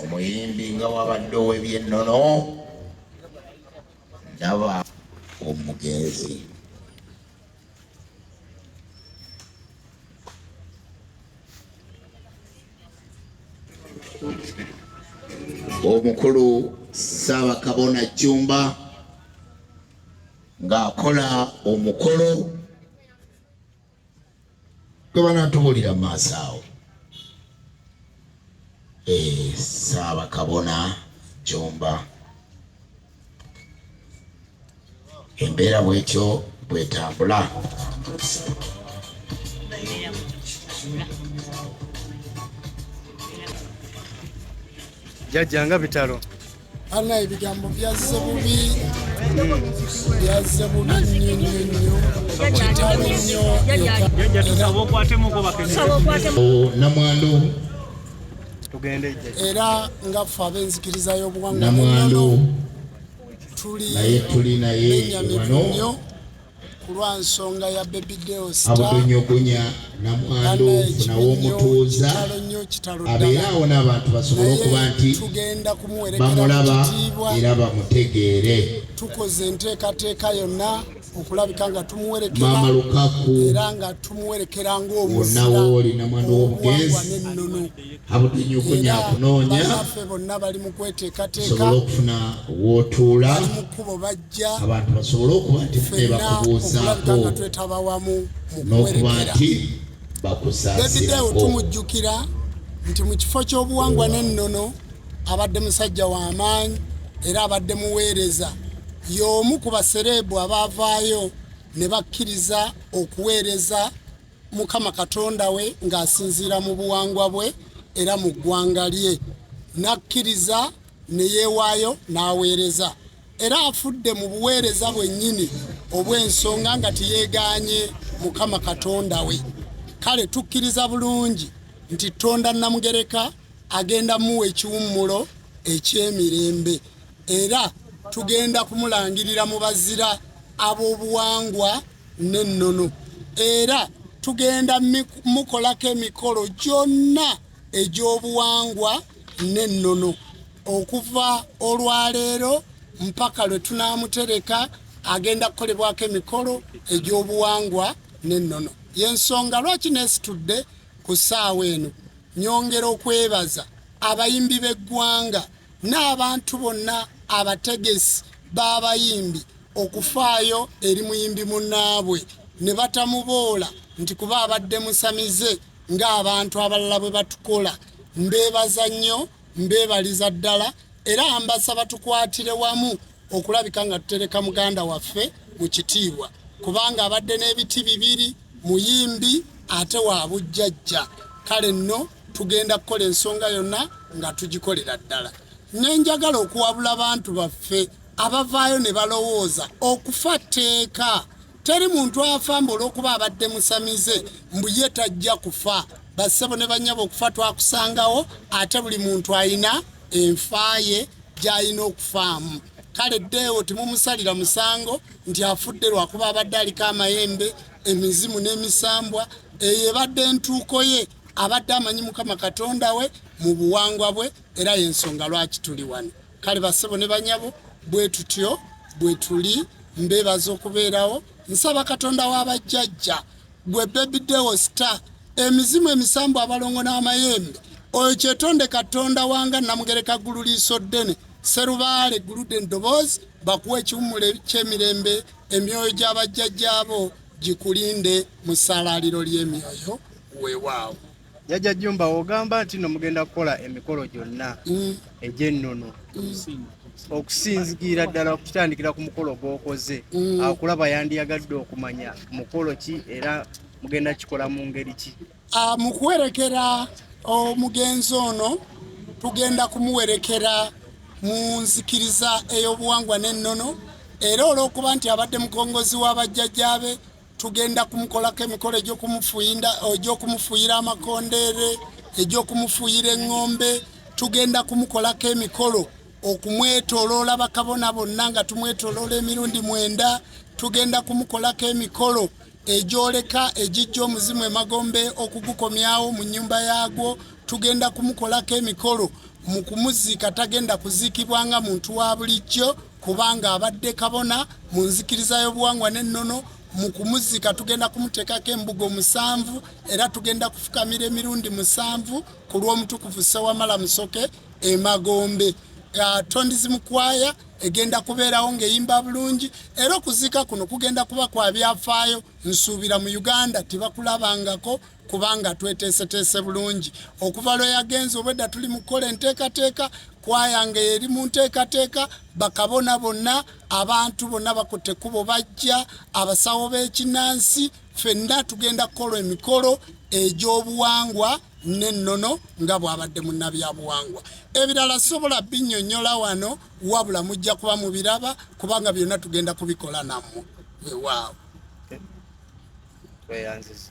omuyimbi nga wabadde ow'ebyennono ndaba omugenzi omukulu ssaabakabona jjumba ng'akola omukolo gwe banatubuulira mu maaso awo eh, saabakabona jomba embeera bwetyo bwetambula jajja nga bitalo Ana ebigambo byazze bubi byazze bubi nnyo nnyo nnyo kitalo nnyo namwandu era nga ffe ab'enzikiriza y'obuwangwa namwandu tuli naye tuli naye wano kulwa nsonga ya baby deo star abudonyogonya namwandu ofuna womutuuza abeera awo n'abantu basobole okuba nti bamulaba era bamutegeere tukoze enteekateeka yonna okulabika nga tumuwerekeramaama lukaku era nga tumuwerekera ngaomunawooli namwandu w'omugenzi abudinyo okunya kunoonya banaffe bonna bali mu kweteekateeka okufuna wootuula bali mu kkubo bajja abantu basobole okuba nti nebakubuuzaako nga twetaba wamu n'okuba nti bakusaasirako tumujjukira nti mu kifo ky'obuwangwa n'ennono abadde musajja wa maanyi era abadde muweereza y'omu ku basereebu abaavaayo ne bakkiriza okuweereza mukama katonda we ng'asinziira mu buwangwa bwe era mu ggwanga lye n'akkiriza ne yeewaayo n'aweereza era afudde mu buweereza bwennyini obw'ensonga nga teyeegaanye mukama katonda we kale tukkiriza bulungi nti tonda namugereka agenda muwa ekiwummulo eky'emirembe era tugenda kumulangirira mu bazira ab'obuwangwa n'ennono era tugenda mukolako emikolo gyonna egy'obuwangwa n'ennono okuva olwaleero mpaka lwe tunaamutereka agenda kukolebwako emikolo egy'obuwangwa n'ennono y'ensonga lwaki neesitudde ku ssaawa eno nyongera okwebaza abayimbi b'eggwanga n'abantu bonna abategesi b'abayimbi okufaayo eri muyimbi munnaabwe ne batamuboola nti kuba abadde musamize ng'abantu abalala bwe batukola mbeebaza nnyo mbeebaliza ddala era mbasaba tukwatire wamu okulabika nga tutereka muganda waffe mu kitiibwa kubanga abadde n'ebiti bibiri muyimbi ate wa bujjajja kale nno tugenda kukola ensonga yonna nga tugikolera ddala nenjagala okuwabula bantu baffe abavaayo ne balowooza okufa tteeka teri muntu afamba olwokuba abadde musamize mbu ye tajja kufa bassebo ne banyaba okufa twakusangawo ate buli muntu ayina enfaaye gy'alina okufaamu kale ddeewo temumusalira musango nti afudde lwakuba abadde aliko amayembe emizimu n'emisambwa eyo ebadde entuuko ye abadde amanyi mukama katonda we mu buwangwa bwe era yensonga lwaki tuli wano kale basebo ne banyabo bwetutyo bwetuli mbebaza okubeerawo nsaba katonda w'abajjajja gwe bebidewo star emizimu emisambu abalongo n'amayembe oyo kyetonde katonda wanga namugereka ggulu liiso ddene serubaale gulude ndoboozi bakuwa ekiwummulo ky'emirembe emyoyo gy'abajjajjaabo gikulinde mu ssalaaliro ly'emyoyo weewaawo jajja jumba ogamba nti no mugenda kukola emikolo gyonna mm. egy'ennono mm. okusinzigira ddala okutandikira ku mukolo gwokoze mm. akulaba yandiyagadde okumanya mukolo ki era mugenda kikola mu ngeri ki ah, mu kuwerekera omugenzi ono tugenda kumuwerekera mu nzikiriza ey'obuwangwa n'ennono era olw'okuba nti abadde mukongozi w'abajjajjaabe tugenda kumukolako emikolo egy'okumufuyira amakondeere egy'okumufuyira eŋŋombe tugenda kumukolako emikolo okumwetoloola bakabona bonna nga tumwetoloola emirundi mwenda tugenda kumukolako emikolo egyoleka egijja omuzimu emagombe okugukomyawo mu nnyumba yaagwo tugenda kumukolako emikolo mu kumuziika tagenda kuziikibwa nga muntu wa bulijjo kubanga abadde kabona mu nzikiriza y'obuwangwa n'ennono mu kumuzika tugenda kumuteekako embugo musanvu era tugenda kufukamira emirundi musanvu ku lw'omutukuvu ssewamala musoke emagombe uh, tondizi mukwaya egenda kubeerawo ng'eyimba bulungi era okuziika kuno kugenda kuba kwa byafaayo nsuubira mu uganda tebakulabangako kubanga tweteeseteese bulungi okuva lwe yagenze obwedda tuli mu kukola enteekateeka kwayange eri mu nteekateeka bakabona bonna abantu bonna bakutte kubo bajja abasawo b'ekinnansi fenna tugenda kukola emikolo egy'obuwangwa n'ennono nga bw'abadde munnabyabuwangwa ebirala sobola binnyonnyola wano wabula mujja kuba mu biraba kubanga byonna tugenda kubikola nammwe wewaawo tweyanziza